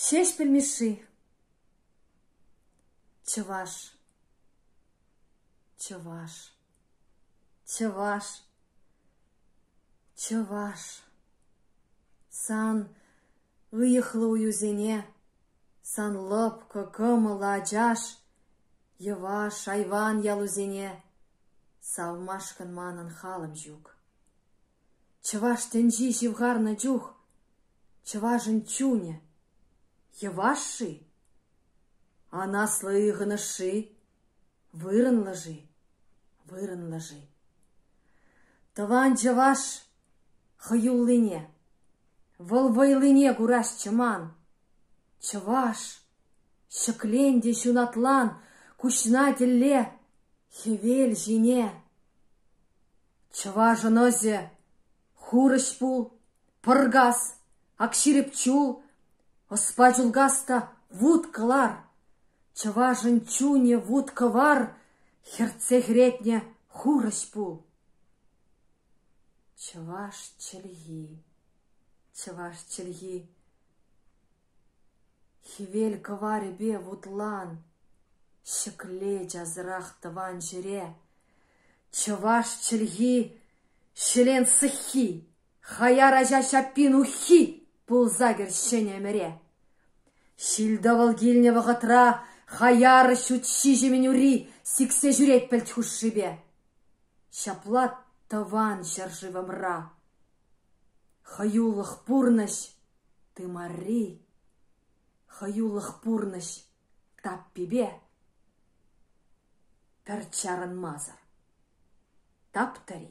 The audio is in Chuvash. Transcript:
Ҫеҫпӗл Мишши Чӑваш Чӑваш Чӑваш Чӑваш Сан ыйӑхлӑ уюсене Сан лӑпкӑ кӑмӑллӑ ачаш Йӑваш айван ялусене Савмашкӑн манӑн халӑм ҫук. Чӑваш тӗнчи ҫывхарнӑ чух чӑвашӑн чунӗ — йӑваш-ши? Анаслӑ ыхӑнӑш-ши? Вырӑнлӑ-ши? Вырӑнлӑ-ши? Тӑван чӑваш хӑюллине, вӑл вӑйлине курас чӑман. Чӑваш, ҫӗклен те ҫунатлан куҫна тӗлле хӗвел ҫине. Чӑвашӑн ӑсӗ — хурӑҫ пул, пӑркас, ак ҫирӗп чул, ӑспа чулкас та вут кӑлар, чӑвашӑн чунӗ вут кӑвар, хӗртсе хӗретнӗ хурӑҫ пул. Чӑваш чӗлхи, чӑваш чӗлхи Хӗвел кӑварӗпе вутлан ҫӗклет часрах тӑван ҫӗре Чӑваш чӗлхи ҫӗлен сыххи, хаяр аҫа ҫаппин уххи пулса кӗр ҫӗнӗ ӗмӗре. Ҫил-тӑвӑл килнӗ вӑхӑтра хаяр ҫут ҫиҫӗмӗн ури сиксе ҫӳрет пӗлт хушшипе. Ҫапла тӑван ҫӗршывӑмра хӑюлӑх пурнӑҫ Тымарри хӑюлӑх пурнӑҫ таппипе пӗр чарӑнмасӑр таптӑр-и?